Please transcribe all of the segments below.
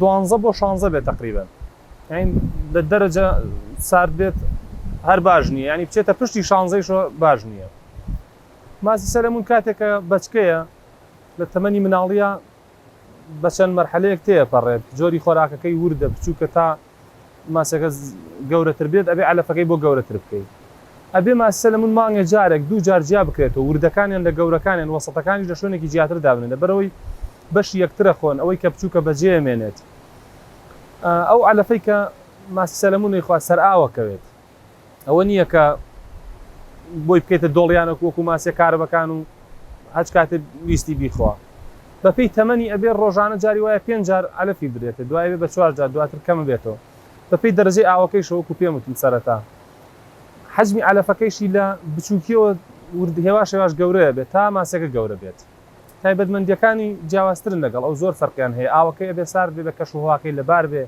دوانزە بۆ شانزە بێت تقریبن لە دەرەجە سارد بێت هەر باش نییە ینی بچێتە پشتی شانزەیشە باش نییە ماسی سەلمون کاتێکە بچکەیە لە تەمەنی مناڵیە بە چەند مەرحەلەیەک تێپەڕێت جۆری خۆراکەکەی وردە بچووکە تا ماسەکە گەورەتر بێت ئەبێ عەلەفەکەی بۆ گەورەتر بکەی ئەبێ ماسی سەلەمون مانگێ جارێک دوو جار جیا بکرێتەوە وردەکانیان لە گەورەکانیان وەسەتەکانیش لە شوێنێکی جیاتر دابنێ لەبەرەوەی بەشی یەکترە خۆن ئەوەی کە بچووکە بەجێ مێنێت ئەو عەلەفەی کە ماسی سەلەمونی خوا سەرئاوە کەوێت. ئەوە نییە کە بۆی بکەیتە دۆڵیانە وەکو ماسیە کارەبەکان و هەچ کاتێ ویستی بیخوا بە پێی تەمەنی ئەبێ ڕۆژانە جاری وایە پێنج جار عەلەفی بدرێتێ دوای ئەبێ بە چوار جار دواتر کەمبێتەوە بە پێی دەرەجەی ئاوەکەیشەوە وەکو پێم وتم سەرەتا حەجمی عەلەفەکەیشی لە بچووکیەوە ورد هێواش هێواش گەورەیە بێت تا ماسیەکە گەورە بێت تایبەتمەندیەکانی جیاوازترن لەگەڵ ئەو زۆر فەرقیان هەیە ئاوەکەی ئەبێ سارد بێ بە کەش و هەواکەی لەبار بێ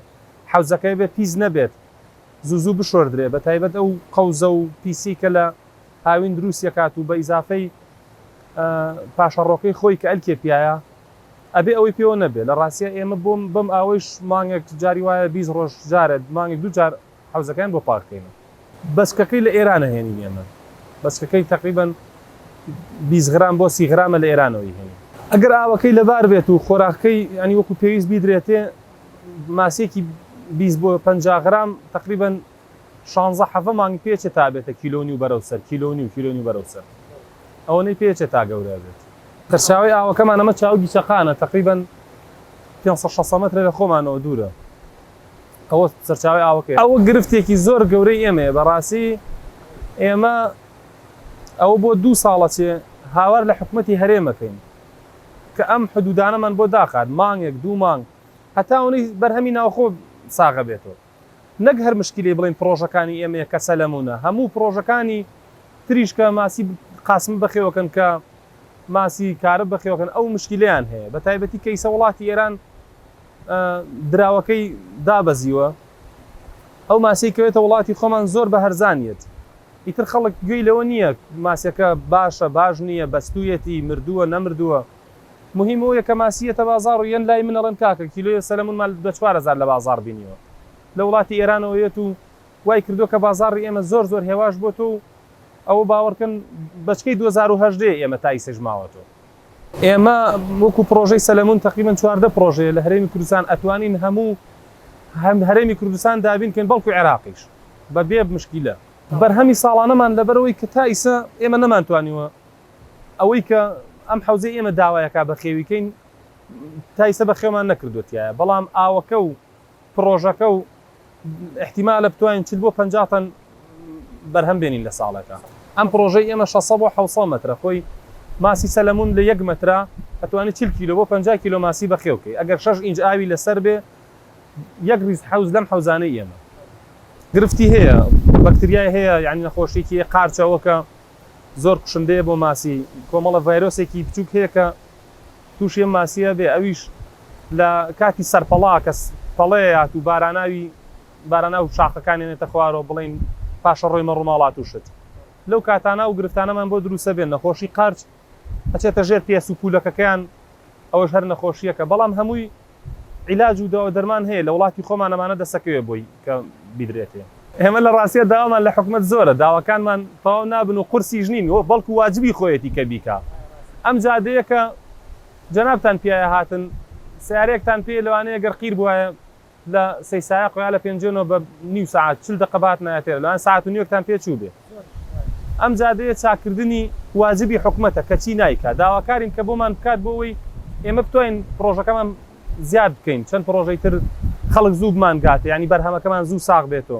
حەوزەکەی بێ پیس نەبێت زوو زوو بشۆردرێ بە تایبەت ئەو قەوزە و پیسی کە لە هاوین دروستی ئەکات و بە ئیزافەی پاشەڕۆکەی خۆی کە ئەلکێ پیایە ئەبێ ئەوەی پێوە نەبێ لە ڕاستیا ئێمە بۆم بەم ئاوەیش مانگێک جاری وایە بیست ڕۆژ جارە مانگێک دوو جار حەوزەکەیان بۆ پاک کەینە. بەچکەکەی لە ئێران ئەهێنین ئێمە بەچکەکەی تەقریبەن بیست غرام بۆ سی غرامە لە ئێرانەوە ئەیهێنین. ئەگەر ئاوەکەی لەبار بێت و خۆراکەکەی یانی وەکوو پێویست بیدرێتێ ماسیەکی بیست بۆ پەنجا غرام تەقریبەن شانزە حەڤە مانگ پێچێ تا بێتە کیلۆ و نیو بەرەو سەر کیلۆ و نیو کیلۆ نیو بەرەو سەر ئەوەنەی پێچێ تا گەورە بێت. سەرچاوەی ئاوەکەمان ئەمە چاوگی چەقانە تەقریبەن پێنج سەد شەست مەترە لە خۆمانەوە دوورە ئەوە سەرچاوەی ئاوەکەی. ئەوە گرفتێکی زۆر گەورەی ئێمەیە بەڕاستی ئێمە ئەوە بۆ دوو ساڵە چێ هاوار لە حکومەتی هەرێمەکەین کە ئەم حدودانەمان بۆ داخات مانگێک دوو مانگ هەتا ئەونەی بەرهەمی ناوخۆ ساغە بێتەوە نەک هەر مشکیلەی بڵێن پڕۆژەکانی ئێمە یە کە سەلەمونە هەموو پڕۆژەکانی تریش کە ماسی قاسم بەخێوەکەن کە ماسی کارە بەخێوەکەن ئەو مشکیلیان هەیە بە تایبەتی کەیسە وڵاتی ئێران دراوەکەی دابەزیوە ئەو ماسیکەوێتە وڵاتی خۆمان زۆر بە هەرزانیت ئیتر خەڵک گوێی لەوە نییە ماسیەکە باشە باش نییە، بەستوویەتی، مردووە نەمردووە، مهیم ئەوەیە کە ماسی یەتە بازاڕ و یەن لای من ئەڵێم کاکە کیلۆیە سەلەمونمان بە چوار هەزار لە بازاڕ بینیوە لە وڵاتی ئێرانەوە یەت و وای کردووە کە بازاڕی ئێمە زۆر زۆر هێواش بۆتۆ و ئەوە باوەڕکەن بەچکەی دوەزار و هەژدە یە ئێمە تا ئیسەش ماوەتۆ. ئێمە وەکو پڕۆژەی سەلەمون تەقریبەن چواردە پڕۆژەیە لە هەرێمی کوردستان ئەتوانین هەموو هەم هەرێمی کوردستان دابین کەین بەڵکو عێراقیش بە بێ مشکیلە. بەرهەمی ساڵانەمان لەبەرئەوەی کە تا ئیسە ئێمە نەمانتوانیوە ئەوەی کە ئەم حەوزەی ئێمە داوای ئەکا بەخێوی کەین تا ئیسە بەخێومان نەکردوە تیایا بەڵام ئاوەکە و پڕۆژەکە و ئیحتیمالە بتوانین چل بۆ پەنجا تەن بەرهەم بێنین لە ساڵێکا ئەم پڕۆژەی ئێمە شەست سەد بۆ حەوت سەد مەترە خۆی ماسی سەلەمون لە یەک مەترا ئەتوانی چل کیلۆ بۆ پەنجا کیلۆ ماسی بەخێو بکەی ئەگەر شەش ئینج ئاوی لەسەر بێ یەک ریز حەوز لەم حەوزانەی ئێمە گرفتی هەیە بەکتریای هەیە یعنی نەخۆشیێکی قارچەوەکە زۆر کوشندەیە بۆ ماسی کۆمەڵە ڤایرۆسێکی بچووک هەیە کە توشی ئەم ماسیە بێ ئەویش لە کاتی سەرپەڵا کە پەڵەیەات و باراناوی باراناو شاخەکانیان یەتە خوارەوە بڵێین پاشەڕۆیمە ڕوماڵات و شت لەو کاتانە ئەو گرفتانەمان بۆ دروسە بێ نەخۆشی قەرچ ئەچێتە ژێر پێس و پولەکەکەیان ئەوەش هەر نەخۆشیەکە بەڵام هەمووی عیلاج و داوودەرمان هەیە لە وڵاتی خۆمان ئەمانە دەسەکەوێ بۆی کە بیدرێتێ. ئێمە لە ڕاستیا داوامان لە حکومەت زۆرە داواکانمان تەواو نابن و قورسیش نین و بەڵکو واجبی خۆیەتی کە بیکا ئەم جادەیە کە جەنابتان پیایە هاتن سەیارەیەکتان پێیە لەوانەیە گەر قیر بوایە لە سەی سایەقۆ یا لە پێنجۆنۆ بە نیو سەعات چل دەقە بهاتنایە تێرە لەوان سەعات و نیوێکتان پێ چووبێ. ئەم جادەیە چاککردنی واجبی حکومەتە کەچی نایکا، داواکارین کە بۆمان بکات بۆ ئەوەی ئێمە بتوانین پڕۆژەکەمان زیاد بکەین چەند پڕۆژەی تر خەڵک زوو بمانگاتێ یانی بەرهەمەکەمان زوو ساغ بێتۆ.